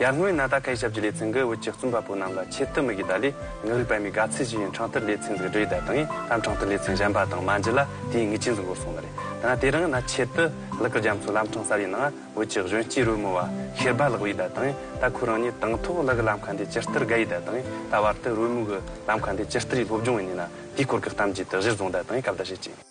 ཡར་སྔོན་ན་ད་གའི་ཞབས་ཀྱི་ལས་ཚན་འགའི་བོད་ཀྱི་བཙུན་པ་པོ་རྣམས་ལ་ཆེད་དུ་མི་གི་ད་ལི་ངག་རིག་པའི་མི་ག་ཚད་ཅིག་ཡིན་འཕྲང་ཐུར་ལས་ཚན་འཛུགས་འབྲེལ་ཡི་ད་དང་ཡིན་ལམ་འཕྲང་ཐུར་ལས་ཚན་གཞན་པ་དང་མ་འཇི་ལ་དེའི་ངི་ཅི་འཛུགས་འགོ་སོང་ད་རེད་ད་ན་དེ་རང་ན་ཆེད་དུ་ལི་གི་རྒྱ་མཚོ་ལམ་འཕྲང་གསར་ཡི་ནང་བོད་ཀྱི་གཞོན་སྐྱེས་རོལ་མོ་བ་ཤེར་བ་ལགས་བོ་ཡི་ད་དང་ཡིན་ད་ཁོ་རང་ཉིད་དང་ཐོག་ལི་གི་ལམ་ཁ་འདི་ཇི་ལྟར་དགའ་ཡི་ད་དང་ཡིན་ད་བར་དུ་རོལ་མོ་གི་ལམ་ཁ་འདི་ཇི་ལྟར་ཡི་སློབ་སྦྱོང་ཡི་ནི་ན་དེའི་སྐོར་གི་གཏམ་རྒྱུད་དེ་གཞིར་བཟུང་ད་དང་ཡིན་གབ་ལྟ་བྱེད་ཅིང།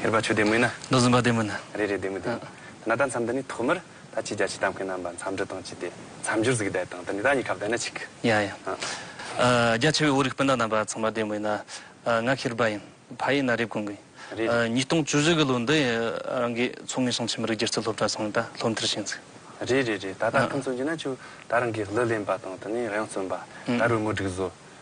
ཧེ་རུ་པ་ཆོས་སྡེ་མི་ནི། མདོ་འཛིན་པ་སྡེ་མི་ནི། རེ་རེ་སྡེ་མི་དང། དེ་ནི་ད་མཚམས་འདི་ནས་ཐོག་མར་ད་ཁྱེད་རྒྱ་ཆེ་དམ་མཁན་རྣམས་པ་མཚམས་འདྲི་དང་བཅས་ཏེ་མཚམས་སྦྱོར་གཟིགས་བསྡད་དང་དེ་ནས་ད་གཉིས་ཁ་བསྡད་ན་ཅིག་གི། ཡང་ཡང། རྒྱ་ཆེ་བའི་དབུ་རིགས་སྤུན་ཟླ་རྣམས་པ་ཚང་མ་སྡེ་མི་ཡིན། ང་ཧེ་རུ་པ་ཡིན། ཕ་ཡིན་ན་རེབ་གོང་གི། རེ་རེ། ཉིས་སྟོང་བཅུ་བཞི་གི་ལོ་འདི་ཡི་རང་གི་མཚོ་སྔོན་ཞིང་ཆེན་མི་རིགས་སྒྱུ་རྩལ་སློབ་གྲྭ་ཚང་མས་ད་སློབ་མཐར་ཕྱིན་ཚུལ། རེ་རེ་རེད། ད་ད་ཁྱིམ་ཚང་རྒྱུ་ན་ཆུ་ད་རང་གིས་གླུ་ལེན་པ་དང་དེ་ནས་རང་བརྩོན་པ། ད་རུ་དངོས་སྒྲིག་བཟོ།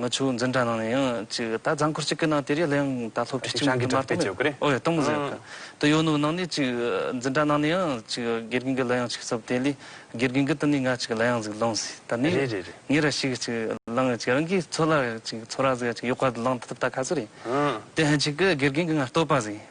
ང་ཆུ་འཛིན་གྲྭ་ནང་ནས་ཡང་ཅིག་ད་རྫ་འཁོར་གཅིག་གི་ནང་དེ་རིགས་ལའང་ད་སློབ་ཁྲིད་གཅིག་མུ་འདི་མ་གཏོང་མེད་ཨོ་ཡ་གཏོང་མུ་ཟེར་གི་དེ་ཡོད་ནོ་ནང་ནས་ཅིག་འཛིན་གྲྭ་ནང་ནས་ཡང་ཅིག་དགེ་རྒན་གྱི་ལ་ཡང་ཅིག་བསུབ་དེ་ལས་དགེ་རྒན་གྱི་དེ་ནས་ང་ཅིག་ལ་ཡང་ཟིག་ལོངས་ཟིག་ད་ནས་ངས་ར་ཞིག་ཅིག་བླངས་ཡང་ཅིག་རང་གིས་འཚོ་ལ་ཅིག་འཚོ་ར་ཟིག་ཡང་ཅིག་ཡོད་ཁ་དུ་ལངས་ཐུབ་ད་ག་ཚོད་རེད་དེ་ཧན་ཅིག་གི་དགེ་རྒན་གྱི་ང་བསྟོད་པ་ཟིག།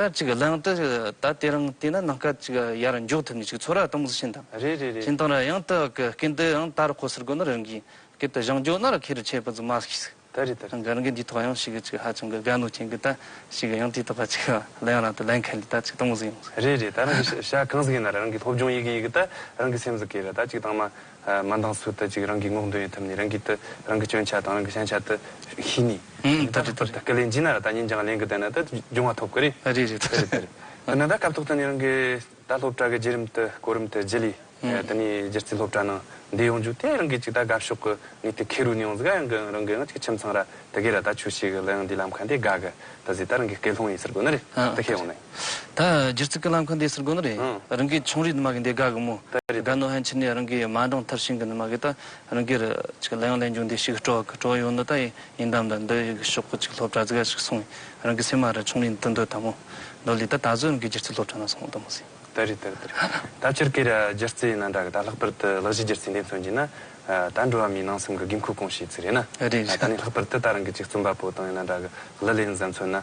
ད་ཅིག་གླེང་དུ་ད་དེ་རིང་བལྟས་ན་ནང་སྐད་ཅིག་ཡར་མགྱོགས་ཐུབ་ངེས་ཅིག་ཚོར་བ་གཏོང་བཞིན་དང། རེད་རེད་རེད། ཅིན་ཏང་ར་ཡང་ཏི་ཨག་གི་སྐད་འདི་ཡང་ད་རུ་ཁོ་སར་གོ་ན་རང་གིས་སྐད་དུ་བཞེངས་རྒྱུ་ན་ར་ཁེ་རུ་ཆད་པ་ཙུག་མ་ཤིག། ད་རེད་ད་རེད། ག་རང་གིས་འདིའི་ཐོག་ཡང་ཤིག་ཅིག་ཧ་ཅང་གི་དགའ་ནུ་ཅན་གི་ད་ཤིག་ཡང་ཏིའི་ཐོག་ཁ་ཅིག་གླེང་རང་དུ་གླེང་མཁན་ལས་ད་ཅིག་གཏོང་བཞིན་ཡོང། རེད་རེད་ད་རང་གིས་ཤ་གང་ཟིག་ཡིན་ན་ར་རང་གིས་སློབ་སྦྱོང་ཡི་གི་ཡི་གི་ད་རང་གིས་སེམས་སུ་གས་ར་ད་ཅིག་གཏང་མ་མ་འདང་ཚུལ་ལྟ་ཅིག་རང་གིས་སྔོག་འདོན་ཡོད་ཐབས་ནི་རང་གིས་ལྟོས་རང་གི་སྐྱོན་ཆ་དང་རང་གི་བྱང་ཆ་དུ་ཤེས་ནས། ཨང། ད་རེད་ད་རེད། ཀ་ལས་འཇིགས་ན་ར་ད་ཉིན་བྱང་ལེན་གི་བསྡད་ན་ད་འབྱུང་བ་ཐོབ་གི་རེད། རེད་རེད། ད་རེད་ད་རེད། ད་ནང་ད་སྐབས་ཐོག་ད་ནི་རང་གི་ད་སློབ་གྲྭ་གི་རྗེས་རིམ་དུ་གོ་རིམ་དུ་རྗེས་ལུས་ད་ནི་རྗེས་རྩིས་སློབ་གྲྭ་ནང་བསྡད་ཡོང་རྒྱུ་དེ་རང་གིས་ཅིག་ད་དགའ་ཕྱོགས་གི་ངས་དེ་ཁེ་རུ་ནས་ཡོང་ཟིག་ཨ་ཡང་གི་རང་གི་ང་ཅིག་ཁྱིམ་ཚང་ར་ད་གས་ར་ད་ཆོས་ཤིག་ལ་ཡང་འདི་ལམ་ཁ་འདི་དགའ་གི་ད་ཟིག་ད་རང་གིས་སྐད་སློང་ཡིན་ཟེར་དགོས་ན་རེད་ད་ཁས་ཡོང་ནས། ད་སྒྱུར་ཚིག་སྐུ་ལམ་ཁང་འདི་སུར་དགོན་རེད། རང་གི་ཆུང་རིའི་ནུ་མ་གི་འདི་དགའ་གི་མོ། དགའ་ནུ་ཧན་ཕྱི་ནས་རང་གི་མ་འབྲང་ཐབས་ཤིང་གི་ནུ་མ་གི་ད་རང་གིར། ལས་ཡོང་ལས་འབྱུང་འདི་ཞིག་སྤྲོ་བ་སྤྲོ་ཡོང་འདི་ད་ཡིན་དམ་ད་འདི་ཡི་གི་ཤོག་གུ་ཅིག་སློབ་གྲྭ་ཙི་ག་ཞིག་སོང་ཡིན་རང་གི་སེམས་མ་རེད་ཆུང་རིའི་འདི་འདོད་དམ་མོ། འདོད་ལི་ད་ད་གཟོད་རང་གི་སྒྱུར་ཚིག་སློབ་གྲྭ་ན་སོང་དམ་མོ་ཟིན། ད་རེད་ད་རེད་ད་རེད་ད་ཁྱེར་ཀེ་ར་སྒྱུར་ཚིག་ན་འདྲ་གི་ད་ལྷག་པར་དུ་ལག་བཞི་སྒྱུར་ཚིག་འདི་མཚོན་གྱིན་ན། ད་འགྲོ་བ་མིའི་ནང་སེམས་གི་དགོས་མཁོ་སྐོང་བྱེད་ཚིག་རེད་ན། རེད་རེད། ད་ནི་ལྷག་པར་དུ་ད་རང་གི་ཅིག་བཙུན་པ་པོ་དང་ཡང་ན་འདྲ་གི་ལི་ལས་ནི་གཟའ་མཚོན་ན།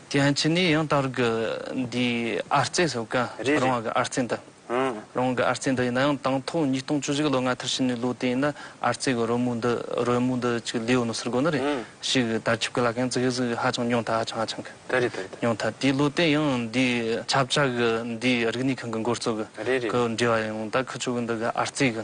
ཀྱང་ཅི་ནས་ཡང་དར་གི་འདིའི་ཨར་རྩེ་སོགས་གང་རེད་རེད། རང་གི་ཨར་རྩེ་འདི། ཧུང། རང་གི་ཨར་རྩེ་འདི་ཡིན་ན་ཡང་དང་ཐོག་ཉིས་སྟོང་བཅུ་གཅིག་ལོ་ལྔ་ཐར་ཕྱིན་ནས་ལོ་དེ་ཡིན་ན་ཨར་རྩེ་གི་རོལ་མོ་འདི་རོལ་མོ་འདི་ཅིག་ལེའོ་ནོ་སིར་དགོ་ནི་རེད། ཧུང། ཞིག་གི་དར་ཁྱབ་གི་ལ་ཁན་ཙི་གི་ཟིག་ཧ་ཅང་ཉུང་ད་ཧ་ཅང་ཧ་ཅང་གི། དེ་རེད་དེ་རེད་དེ། ཉུང་ད་དེའི་ལོ་དེ་ཡང་འདིའི་ཆབ་བཅའ་གི་འདིའི་རིག་གནས་ཁང་གི་འགོ་གཙོ་གི་རེད་རེད། གི་འབྲེལ་བ་ཡང་ད་ཁུ་ཆོ་གི་འདི་གི་ཨར་རྩེ་གི་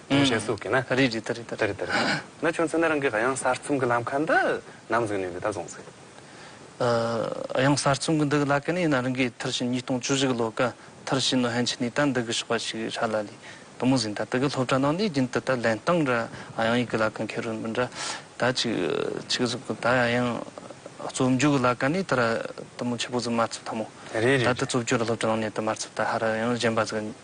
ཡུམ་ཆེན་སུ་གིས་ན། རེད་རེད་རེད། རེད་རེད་རེད། ན་ཁྱོད་ཚོས་ན་རང་གི་གཡང་གསར་རྩོམ་གྱི་ལམ་ཁ་འདི་ནམ་བཟོས་ནས་འདི་ལྟར་བཟུང་ཟེར། གཡང་གསར་རྩོམ་གྱི་འདི་གི་ལ་ཀ་ནི་ན་རང་གིས་མཐར་ཕྱིན་ཉིས་སྟོང་བཅུ་བཞི་གི་ལོ་ཀ་མཐར་ཕྱིན་ནོ་ཧན་ཆི་ནི་ཏན་འདི་གི་ཞོགས་པ་ཞིག་གི་ཧྲ་ལ་ལི་དུ་མུ་ཟིན་ད་དི་གི་སློབ་གྲྭ་ནང་ནི་རྒྱུན་དུ་ད་ལན་སྟངས་ར་གཡང་ཡིག་གི་ལ་ཀ་མཁན་རུ་མི་འདྲ་ད་ཅིག་ཅིག་གཟུགས་གི་ད་གཡང་རྩོམ་རྒྱུག་གི་ལ་ཀ་ནི་ད་ར་དུ་མུ་ཆེ་པོ་ཟི་མ་ཚུབ་ད་མོ་ད་དི་རྩོབ་རྒྱུ་ར་སློབ་གྲྭ་ནང་ནས་དི་མར་ཚུབ་ད་ཧ་ར་གཡང་གཞན་པ་ཟི་ག་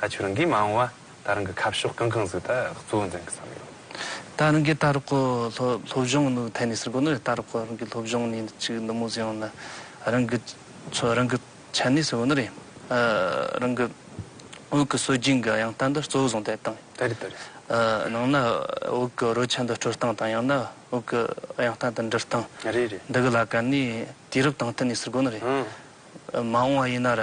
ད་ཁྱོད་རང་གིས་མ་འོངས་བ་ད་རང་གི་ཁ་ཕྱོགས་གང་གང་ཟིག་ད་གཙོ་བོ་འཛིན་གི་བསམ་ཡོད། ད་རང་གིས་ད་རོག་གི་སློབ་སྦྱོང་ནི་ཐད་ནས་ཟེར་དགོས་ནི་རེད་ད་རོག་གི་རང་གི་སློབ་སྦྱོང་ནི་ཅིག་ནུབ་མོ་ཟེར་ཡང་ནི་རང་གི་ཚོ་རང་གི་ཆ་ནས་ཟེར་དགོས་ནི་རེད། རང་གི་འོག་གི་སྲོལ་རྒྱུན་གི་ཡང་ལྟ་འདི་གཙོ་བོ་བཟུང་ཐད་བཏང་ཡོད། ད་རེད་ད་རེད། ནང་ན་འོག་གི་རོལ་ཆ་འདི་སྤྲོད་སྟངས་དང་ཡང་ན་འོག་གི་ཡང་ལྟ་འདི་འབྲི་སྟངས། རེད་རེད། འདི་གི་ལ་ག་ནི་དུས་རབས་དང་ཐད་ནས་ཟེར་དགོས་ནི་རེད། མ་འོངས་བ་ཡིན་ན་ར།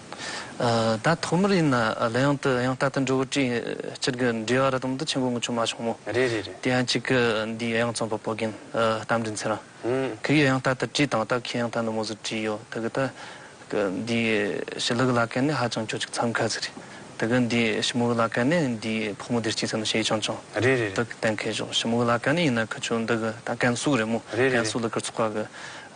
ད་ཐོག་མར་ཡིན་ན་གླེ་ཡང་དུ་ཡང་ལྟ་དུ་འགྲོ་བོ་ཀྲིན་སྤྱིར་གི་འབྲེལ་བ་ར་དོམ་དུ་ཆེན་པོ་ངོ་ཆུང་མ་བྱུང་མོ། རེད་རེད་རེད། དེ་ཡང་གཅིག་གི་འདིའི་ཡང་རྩོམ་པ་པོ་རྒན་རྟ་མགྲིན་ཚེ་རང་གི་ཡང་ལྟ་དུ་བཀྲིས་དང་ལྟ་ཁའི་ཡང་ལྟ་ནུ་མོ་ཟུར་བཀྲིས་ཡོད་དེ་གི་ད་གི་འདིའི་ཞི་ལི་གི་བླ་སྐལ་ནི་ཧ་ཅང་ཁྱོད་ཅིག་འཚམས་ཁ་ཟིག་རེད་དེ་གི་འདིའི་ཞི་མོ་གི་བླ་སྐལ་ནི་འདིའི་ཕོག་མོ་དེར་སྐྱིད་ཚད་ནི་ཞེ་ཅང་ཅང་རེད་རེད་རེད། དུ་གི་གཏན་འཁེལ་བཞོག་ཞི་མོ་གི་བླ་སྐལ་ནི་ཡིན་ན་གི་ཆུ་འདི་གི་ད་ཀན་སུའུ་རེད་མོ་རེད་རེད་ཀན་རེད། སུའུ་ལི་ཀིར་ཚོགས་པ་གི་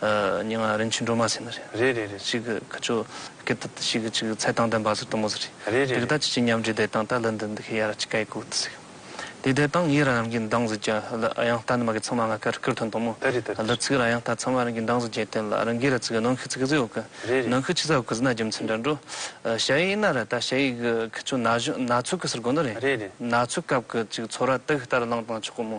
རྙིང་མ་རིན་ཆེན་སྒྲོལ་མ་ཟེར་ནི་རེད། རེད་རེད་རེད་ཅིག་གི་ཁྱོད་སྐད་དུ་དུ་ཞིག་ཅིག་ཚད་དང་ལྡན་པ་ཟེར་དུ་མོ་ཟེར་རེད། རེད་རེད་རེད། ཅིག་ད་ཅི་ཅིག་མཉམ་འདྲེས་བསྡད་དང་ད་ལི་འདི་འདི་ཤི་ཡ་ར་ཅིག་ག་ཡི་གུག་ཏུ་ཟེར། དེ་བསྡད་དང་ཡི་ར་རང་གི་འདང་ཟིག་ཀྱང་ལི་ཨ་ཡང་ལྟ་ནི་མ་གི་ཚང་མ་ང་ཁ་རི་ཁུར་ཐོན་དང་མོ། ད་རེད་ད་རེད་ལི་རེད། ཚིག་ར་ཡང་ལྟ་ཚང་མ་རང་གི་འདང་ཟིག་ཀྱང་བསྟན་ལ་རང་གི་ར་ཚིག་གི་ནང་ཤི་ཚིག་གཟིག་འོག་གི་རེད་རེད། ནང་ཤི་ཆི་ཚ་འོག་གི་ཟི་ན་རྒྱུ་མཚན་འདྲ་འགྲོ། ཞ་ཡིག་ན་ར་ད་ཞ་ཡིག་གི་ཁྱོད་ན་གཞོན་ན་ཚོད་གི་ཟེར་དགོས་ནི་རེད། རེད་རེད། ན་ཚོད་སྐབས་གི་ཅིག་ཚོད་ར་དག་ལྟར་བླངས་དང་ཆོག་གི་མོ།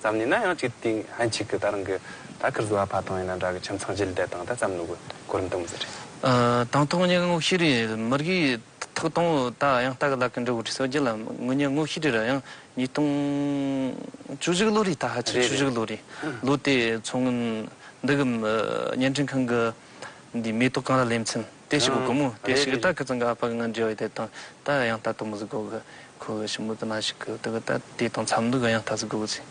ཙམ་ནས་ན་ཡང་གཅིག་དེ་ཨ་མཆིག་གི་ད་རང་གི་ད་ཁིར་བཟོ་བ་ཕ་ཐང་ཡིན་ན་འདྲ་གི་ཁྱིམ་ཚང་རྗེས་ལྡད་དང་ད་ཙམ་ནུ་གི་གོར་མི་འདུག་མི་ཟེར་རེད། དང་ཐོག་མཉན་ངོ་ཤེས་རིག་མི་རིགས་ཐོག་དང་བོ་ད་ཡང་ལྟ་གི་ལ་ཀི་འབྲི་བོ་བྲི་སོ་རྒྱུ་ལ་ངོ་མཉན་ངོ་ཤེས་རིག་ར་ཡང་ཉིས་སྟོང་བཅུ་བཞི་གི་ལོ་རེད་ད་ཧ་ཅིག་བཅུ་བཞི་གི་ལོ་རེད་ལོ་དེ་མཚོ་སྔོན་འདི་གི་བརྙན་འཕྲིན་ཁང་གི་འདི་མེ་ཏོག་གང་ལ་ལེན་ཚིན། དེ་ཞིག་གི་སྒོ་མོ་དེ་ཞིག་གི་ད་གི་ཙང་ག་པག་ང་འབྲེལ་བའི་དེ་དང་ད་ཡང་ད་དུ་མུ་ཟི་དགོ་གི་ཁོ་གི་ཞི་མུ་ཏི་ན་ཞིག་གི་དུ་གི་ད་དེ་དང་འཚམ་འདུག་གི་ཡང་ད་ཟི་དགོ་གི་ཚེ།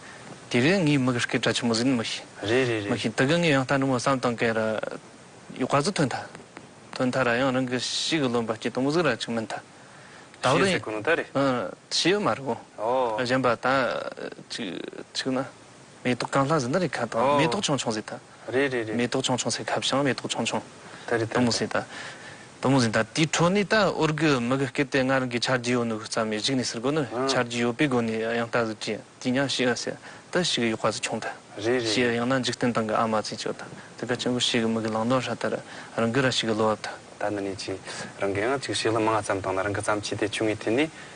དེ་རིང་ངའི་མིག་རྐེད་དྲ་ཆུ་མུ་ཟིན་མི་ཤེས། རེད་རེད་རེད། མི་ཤེས་དུ་གི་ངའི་ཡང་ད་འབྲི་མོ་བསམ་དང་གེ་ར་ཡོ་ག་ཟི་ཐོན་ཐ། ཐོན་ཐ་ར་ཡང་རང་གི་ཤིག་གི་ལོན་པ་སྐྱེ་དང་མུ་ཟི་ར་ཅིག་མིན་ཐ། ད་བར་ཡིན། ཤེས་ཟི་གུ་ནུ་ད་རེད། ཨ་ཤེས་མ་རེད་གོ། ཨོ། གཞན་པ་ད་ཅིག་ཅིག་ན། མེ་ཏོག་གང་ལྷ་ཟི་འདི་རེད་ཁ་དང་མེ་ཏོག་ཆུང་ཆུང་ཟི་ཐ། རེད་རེད་རེད། མེ་ཏོག་ཆུང་ཆུང་ཟེར་ཁབ་བྱང་མེ་ཏོག་ཆུང་ཆུང། ད་རེད་ད་རེད། ཟེར་ད། དུ་མོ་ཟེར་ད་དེའི་འཕྲོ་ནི་ད་ཨོ་རྒྱུ་མི་གི་སྐད་དེ་སྔར་གི་ཆར་རྒྱུས་ཡོད་ནུ་གི་རྩ་མེད་གཞིག་ནི་ཟེར་དགོས་ནུ་ཆར་རྒྱུས་ཡོད་པའི་སྒོ་ནས་ཡང་ད་ཟེར་གྱི་དེ་ཉག་བཤིག་ཨ་ཟེར་ད་བཤིག་གི་ཡོད་ཁ་ཟེར་ཆུང་ད་རེད་རེད་བཤིག་ཡང་རེད། ན་འཇིག་རྟེན་སྟེང་གི་ཨ་མ་ཚེ་ཆོས་ད་དེ་ག་ཆེན་པོ་བཤིག་གི་མི་གི་ལང་དོན་ཧྲ་ད་ར་རང་གི་ར་བཤིག་གི་ལོ་བབ་ད། ད་ནི་ནས་ཀྱི་རང་གི་ཨང་གཅིག་བཤིག་ལ་མ་ང་རྩམ་བཏང་ན་རང་གི་རྩམ་ཕྱི་དེ་ཆུང་ངུའི་དེ་ནི་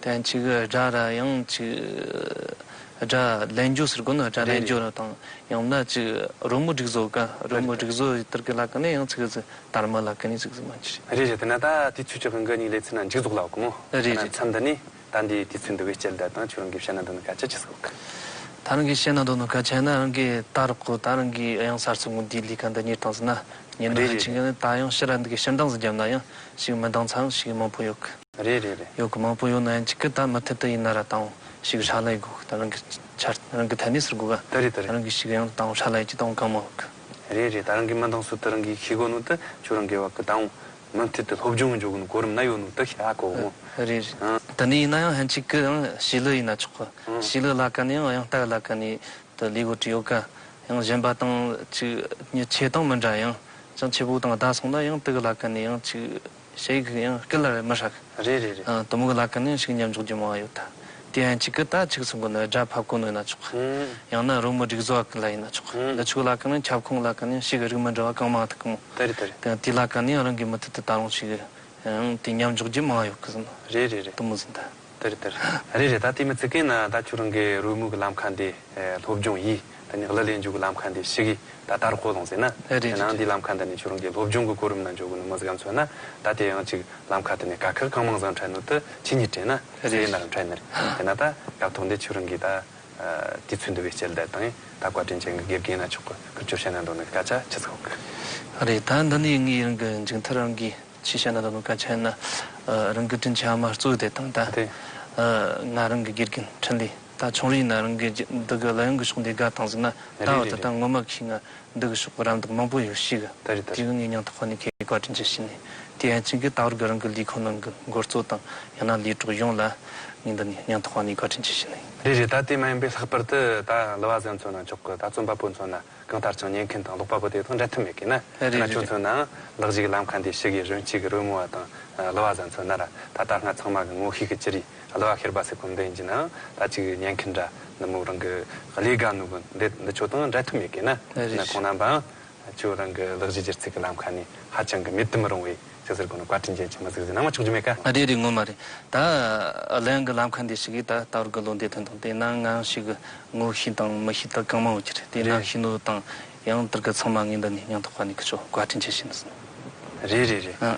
དོན་གཅིག་སྒྲ་ར་ཡང་གཅིག། སྒྲ་ལན་བརྒྱུད་ཟེར་དགོས་ན་སྒྲ་ལན་བརྒྱུད་ར་དང་ཡང་ན་གཅིག་རོལ་མོ་སྒྲིག་བཟོ་དགའ་རོལ་མོ་སྒྲིག་བཟོ་ཡིད་ལྟར་གི་ལ་ཀ་ནི་ཡང་ཚིག་གཟི་དར་མ་ལ་ཀ་ནི་ཚིག་གཟི་མ་གཉིས་རེད། རེད་རེད་དེ་ན་ད་དེའི་ཚུལ་ཁྱོད་ཀྱི་འགའ་གཉིས་ལས་ཚིག་ན་འཇིག་རྫོགས་ལ་དགོས་མོ། རེད་རེད། ད་ན་མཚམས་འདི་ནས་ད་འདིའི་དུས་ཚོད་འདི་བས་སྐྱེལ་བརྡ་དང་ཁྱོད་རང་གིས་བཤད་ན་འདོད་ན་ག་ཆ་ཆེ་ཟིག་ཨོ། ད་རང་གིས་བཤད་ན་འདོད་ན་ག་ཆེ་ན་རང་གིས་ད་རག་གོ་ད་རང་གིས་ཡང་སར་ཚུགས་ངོ་འདིའི་ལས་ཀ་འདི་གཉེར་སྟངས་ཟེར་ན་གཉེར་ན་ཧ་ཅིང་གི་ནི་ད་ཡང་ཕྱི་ར་འདི་གི་ཕྱི་འདང་ཟིག་བརྒྱབ་ན་ཡང་ཞིག་མི་འདང་ཚར་ཞིག་མང་པོ་ཡོད་གི། རེད་རེད་རེད། ཡོད་གི་མང་པོ་ཡོད་ན་ཡང་གཅིག་གི་དང་མི་མཐུན་དུ་ཡིན་ན་ར་བཏང་ཞིག་ཧྲ་ལ་ཡི་དགོས་གི་དང་རང་གི་ཆ་རང་གི་ཐད་གནས་སུ་དགོས་གི་ད་རེད་ད་རེད། རང་གི་ཞིག་ཡང་བཏང་ཧྲ་ལ་ཡི་གཅིག་དང་གང་མང་གི། རེད་རེད་ད་རང་གི་མི་འདང་སུ་དུ་རང་གི་ཤི་དགོས་ནུ་དུ་ཆོས་རང་གི་བ་གི་དང་མི་མཐུད་དུ་སློབ་སྦྱོང་གི་འཇོག་གི་ནུ་གོ་རིམ་ན་ཡོད་ནུ་དུ་ཤ་གོ་གི་མོ། རེད་རེད་ད་ནི་ཡིན་ན་ཡང་ཧན་གཅིག་གི་ཡང་ཤི་ལུ་ཡིན་ན་ཆོག་གི་ཤི་ལུ་ལ་ག་ནི་ཡང་ཡང་སྟག་ལ་ག་ནི་དུ་ལུས་གོ་དྲི་ཡོད་གི་ཡང་གཞན་པ་དང་གཅིག་ཉི་ཆེ་དང་མི་འདྲ་ཡང་ཅང་ཆེ་པོ་དང་ཟླ་སོང་ན་ཡང་དུག་ལ་ག་ནི་ཡང་གཅིག། ཞེས་གིས་ཡང་སྐད་ལ་རེ་མི་ཧྲ་གི། རེ་རེ་རེ། དུ་མུ་གི་ལ་ཀི་ནི་ཤིག་ཉམས་འཇོག་རྒྱུ་མང་ཡོད་ད། དེ་ཡང་ཆི་ཀི་ད་ཆིག་ཚུགས་གི་ནི་སྒྲ་ཕབ་གོ་ནོད་ན་ཆོག་གི། ཡང་ན་རོ་མུ་སྒྲིག་བཟོ་བ་གི་ལ་ཡིན་ན་ཆོག་གི། འདི་ཆུ་གི་ལ་ཀི་ནི་ཁྱབ་ཁོངས་གི་ལ་ཀི་ནི་ཤིག་གི་རིགས་མི་འདྲ་བ་གང་མང་ཐུག་གི་མོ། དེ་རེད་དེ་རེད། དེ་དེའི་ལ་ཀ་ནི་ཡང་རང་གི་མི་ཐུག་དེ་ད་རུང་ཤིག་གི། དེ་ཉམས་འཇོག་རྒྱུ་མང་ཡོད་གི། རེ་རེ་རེ། དུ་མུ་ཟིན་ད། དེར་དེར། རེད་རེད་ད་དེ་མི་ཙི་ཀེ་ན་ད་ཁྱོད་རང་གི་རོལ་མོའི་གི་ལམ་ཁ་འདི། སློབ་སྦྱོང་ཡིས། ད་ནི་གླུ་ལེན་འཇུག་གི་ལམ་ཁ་འདི་ཤི་གི་ད་དར་ཁོ་ལོང་ཟེར་ན། རེད་རེད་རེད་རེད། དེ་ནའང་དེའི་ལམ་ཁ་འདི་ནི་ཁྱོད་རང་གི་སློབ་སྦྱོང་གི་གོ་རིམ་ན་འཇོག་གི་ནི་མི་ཟིག་ཨམ་མཚོན་ན། ད་དེ་ཡང་ཅིག་ལམ་ཁ་དེ་ནི་ག་ཁེར་གང་མང་བཟང་འཕྲལ་ནུར་དུ་ཁྱི་གཉིས་དྲན་ན། རེད་རེད། ཟས་ནར་འཕྲལ་ནིར། དེ་ན་ད་སྐབས་ཐོག་འདི་ཁྱོད་རང་གིས་ད། དུས་ཚོད་འདི་བས་སྐྱེལ་བསྡད་དང་ད་བཀའ་དྲིན་ཅན་གི་དགེ་རྒན་ན་ཆོག་གི་ཁུར་ཅོ་བྱས་ན་འདོད་ནི་གི་སྐད་ཆ་ཁྱི་ཚོགས། རེད་ད་འདི་ནི་ངའི་རང་གི་མཇུག་མཐར་རང་གིས། ཆེས་ཤ་ན་ད་དུང་ཀ་ཆེན་ན་རང་གི་དྲིན་ཆེན་མ་གཙོས་དེ་དང་ད་ང་རང་གི་དགེ་རྒན་འཕྲིན་ལས་ད་ཆུང་རི་ཡིན་ན་རང་གི་འདི་གི་ལ་ཡོང་གི་ཤོག་འདི་དགའ་དང་ཟིག་ན་ད་འོ་ད་ད་ངོ་མ་གིས་ང་འདི་གི་ཤོག་གི་རམ་འདེགས་མང་པོ་ཡོད་ཤིག་དེ་གི་ངས་ཉང་ཐོག་ཁོ་ནས་ཁའི་བཀའ་དྲིན་ཆེ་ཞུས་ནས་དེ་ཡན་ཆིན་གིས་ད་བར་གི་རང་གི་ལས་ཁུངས་ནང་གི་འགོ་གཙོ་དང་ཡང་ན་ལས་གྲོགས་ཡོངས་ལ་ངས་འདི་ནས་ཉང་ཐོག་ཁོ་ནས་བཀའ་དྲིན་ཆེ་ཞུས་ནས། རེད་རེད་ད་དེ་མ་ཡིན་པའི་ལྷག་པར་དུ་ད་ལི་བ་ཟན་ཚོ་ན་མཆོག་གི་ད་རྩོམ་པ་པོ་ཚོ་ན་གང་ལྟར་ཀྱང་ཉན་མཁན་དང་ཀློག་པ་པོ་དེ་དང་འབྲལ་ཐབས་མེད་གི་ན། དེ་ན་ཁྱོད་ཚོས་ནའང་ལག་གཞིག་ལམ་ཁ་འདི་ཞིག་གི་རོན་གཅིག་གི་རོལ་མོ་བ་དང་གླུ་བ་ཟ་མཚོན་ན་ར་ད་ལྟ་སྔ་ཚང་མ་གི་ངོ་ཤེས་གི་ཅི་རིགས་གླུ་བ་ཤེར་པ་སེ་གོམ་བདེན་གྱི་ནའང་ད་ཅིག་གི་ཉན་མཁན་འདྲ་ནུབ་མོ་རང་གི་ཀླེ་དགའ་ནུབ་མོ་འདི་འདི་ཆོས་དང་འབྲལ་ཐབས་མེད་གི་ན། དེ་ན་ཁོང་རྣམ་པའང་ཁྱོད་རང་གི་ལག་གཞིག་སྒྱུར་ཚིག་གི་ལམ་ཁ་ནི་ཧ་ཅང་གི་མེད་དུ་མི་རུང་བས། ཟེར་ཟེར་དགོས་ན་བཀའ་དྲིན་ཅན་བྱོན་མ་གཟིགས་ཟེར་ནའང་ཆོག་རྒྱུ་མེད་ཀ། རེད་རེད་ངོ་མ་རེད་ད། གླེང་གི་ལམ་ཁ་འདི་ཞིག་གིས་ད་ལྟ་བར་གི་བློ་འདས་དོན་དང་དེ་སྣང་ངང་ཞིག་གི་ངོ་གཤིས་དང་མི་གཤིས་དག་གང་མང་བོ་གྱི་རེད་དེ་སྣང་གཤིས་ནོར་བུ་དང་ཡང་དར་ག་ཚང་མ་ངའི་འདི་ནས་སྙིང་ཐག་པ་ནས་གི་ཆོག་བཀའ་དྲིན་ཆེ་བྱིན་ཟིན། རེད་རེད་རེད། ཨ་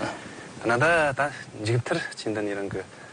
ཨ། ང་ད་ད་འཇིག་མཐར་ཕྱིན་འདི་ནས་རང་གི